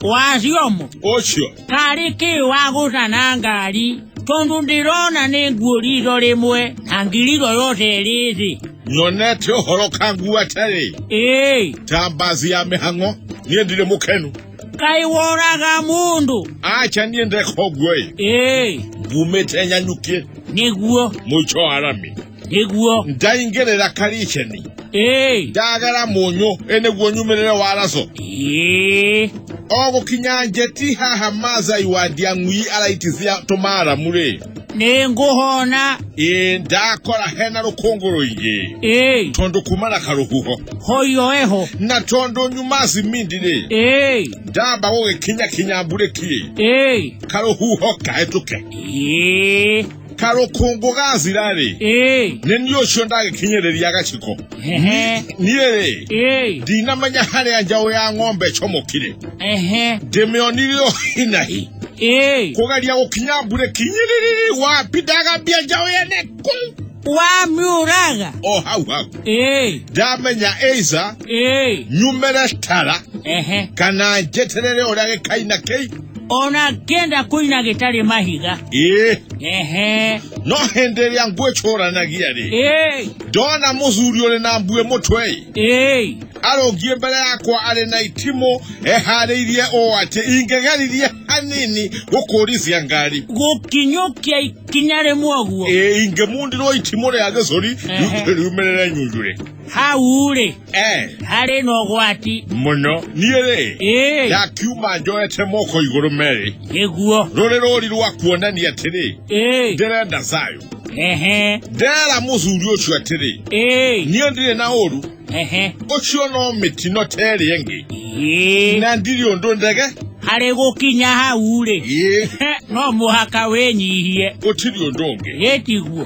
wacio mo ũcio karĩ kĩ wa gũcana ngari tondũ ndĩrona nĩ nguo riitho rĩmwe na ngiriro yothe ĩrĩ thĩ nyonete ũhoro kangu atarĩ ĩĩ ta mbazi ya mĩhang'o niĩ ndirĩ mũkenu kaĩ woraga mũndũ acha niĩ ndeka ũguo-ĩ ĩĩ ngumĩte nyanyukie nĩguo mũico wa rami nĩguo ndaingĩrĩra kariceni ĩĩ ndagera mũnyũ ĩ nĩguo nyumĩrĩre waraco ĩĩ o gũkinya njeti haha mazai wa ndiang'ui araitithia tũmaaramu-rĩ nĩ ngũhona ĩ ndakora hena rũkũngũ rũingĩ ĩĩ tondũ kuma na karũhuho hoyo eho na tondũ nyuma cimindi-rĩ ĩĩ ndamba gũgĩkinya kinya mburĩki-ĩ ĩĩ karũhuho kahĩtũke ĩĩ karokongogaazi rarĩ ee nĩ niĩ ũcio ndagĩkinyĩrĩria gaciko ehe niĩ rĩ ee ndinamenya harĩa njaũ ya ng'ombe ĩcomokire ehe ndĩmĩonire o hinahi ee kũgeria gũkinya mbure kinyĩrĩrĩrĩ wapi ndagambia njaũ yene kũu wamiũraga o hau hau ee ndamenya eiza ee nyumĩre tara ehe kana njeterere ũrĩa gĩkaina kĩi ona ngenda kuina gitari mahiga eh ehe no hindi iria ngwicuranagia ri eh ndona muthuri uri na mbue mutwe eh arungie mbere yakwa ari na itimu ehariirie o ati ingegeririe hanini gukurithia ngari gukinyukia ikinya rimwe guo Eh, ingemundirwo itimu ria gicuri Ehe. riumirire nyunjure hau ri Eh, harĩ na ũgwati mũno niĩ rĩ ĩĩ ndakiuma njoete moko igũrũ merĩ nĩguo rũrĩ rũri rwa kuonania atĩrĩ ĩĩ ndĩrenda thayũ ehe ndera mũthuri ũcio atĩrĩ ĩĩ niĩ ndirĩ na ũru ehe ũcio no mĩtino ta ĩrĩa ĩngĩ ĩĩ na ndirĩ ũndũ ndege harĩ gũkinya hau rĩ Ĩĩ, no mũhaka wĩnyihie gũtirĩ ũndũ ũngĩ ĩtiguo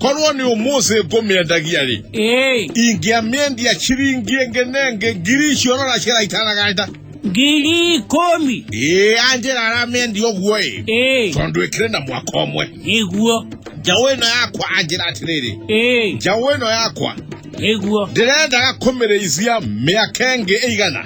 korwo nĩ ũmũthĩ ngũmĩendagia rĩ Ĩĩ, ingĩamĩendia ciringi ĩngĩ na ĩngĩ ngiri icio rora ciraitanaganĩta ngiri ikũmi. ĩĩ anjĩra aramĩendia ũguo ĩ Ĩĩ, tondũ ĩkĩrĩ na mwaka ũmwe nĩguo. njaũ ĩno yakwa anjĩra atĩrĩrĩ Ĩĩ, njaũ ĩno yakwa nĩguo. ndĩrendaga kũmĩrĩithia mĩaka ĩngĩ ĩigana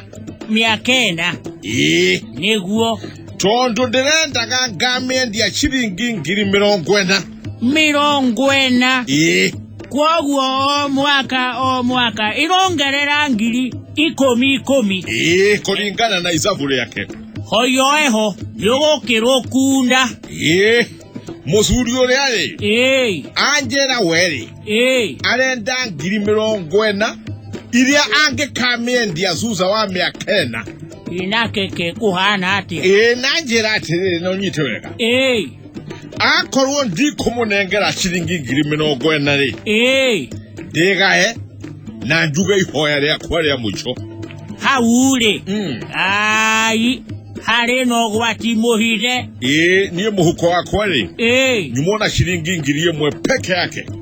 Mĩaka ĩna, ĩĩ nĩguo. tondũ ndĩrendaga ngamĩendia ciringi ngiri mĩrongo ĩna mĩrongo ĩna ĩĩ kwoguo o mwaka o mwaka ĩrongerera ngiri ikũmi ikũmi ĩĩ kũringana na icabu rĩake hoyoeho nĩgũkĩrwo kunda ĩĩ mũcuri ũrĩa rĩ ĩĩ anjĩra werĩ ĩĩ arenda ngiri mĩrongo ĩna iria angĩkamĩendia cuca wa mĩaka ĩna inakeke kũhana atĩa ĩĩ na njĩra atĩrĩrĩ na ũnyite wega ĩĩ akorwo ndikũmũnengera ciringi ngiri mĩrongo ĩna rĩ ĩĩ ndĩgae na njuge ihoya rĩakwa rĩa mũico hau rĩ Mm. ai harĩ na ũgwati mũhithe ĩĩ niĩ mũhuko wakwa rĩ ĩĩ nyumwo na ciringi ngiri ĩmwe peke yake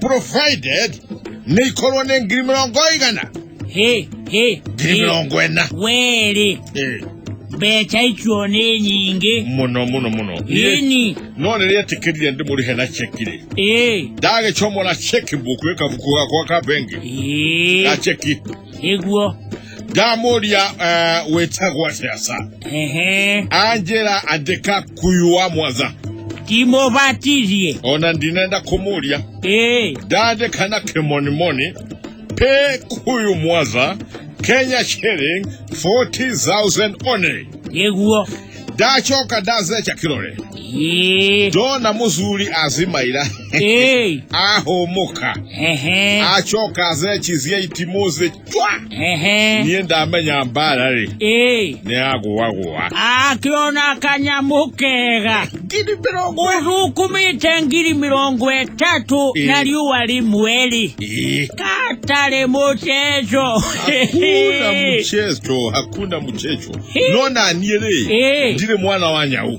provided nikorwo nĩ ngiri mĩrongo ĩigana Hĩ, hĩ, ngiri hĩ. mĩrongo ĩna Wĩrĩ, Eh, mbeca icio nĩ nyingĩ. mũno mũno mũno Niĩ- Nini. no rĩrĩa etĩkĩrire ndĩmũrĩhe na cheki rĩ Ĩ, ndagĩcomora cheki mbuku ĩkabuku gakwa ka bengi ĩ, ga cheki ĩguo. ndamuria uh, wĩtagwo atĩa sa Ehe. anjĩra andĩka kuyu wa mwaza Timũbatithie. ona ndinenda kũmũria Ee. ndandĩka na kĩmonimoni pay kuyu mwaza kenya shilling 40000 only Nĩguo. ndacoka ndazeca kĩrore Ee. ndona mũthuri azimaira Ee. ahũmũka Ehe. acoka azecizie itimũ ehe niä ndamenya mbara rä ĩĩ nä ya gåagåa akĩona kanyamũ kega ngiri mä rongo ũthukumĩte ngiri mĩrongo ĩtatũ Ĩĩ. na riũa rĩmwe-rĩ katarĩ mũceco hakuna mchezo hakuna mchezo no naniä rä Ĩĩ. ndirä mwana wa nyau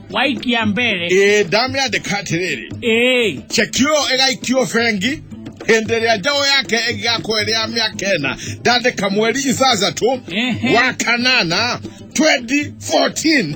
white ya mbere ĩĩ ndamĩa ndĩkatirĩrĩ ĩĩ cekio ĩgaikio bengi hĩndĩ ĩrĩa njaũ yake ĩgĩgakorwo ĩrĩ ya mĩaka ĩna ndandĩka mweri ithathatũ Ehe. wa kanana 2014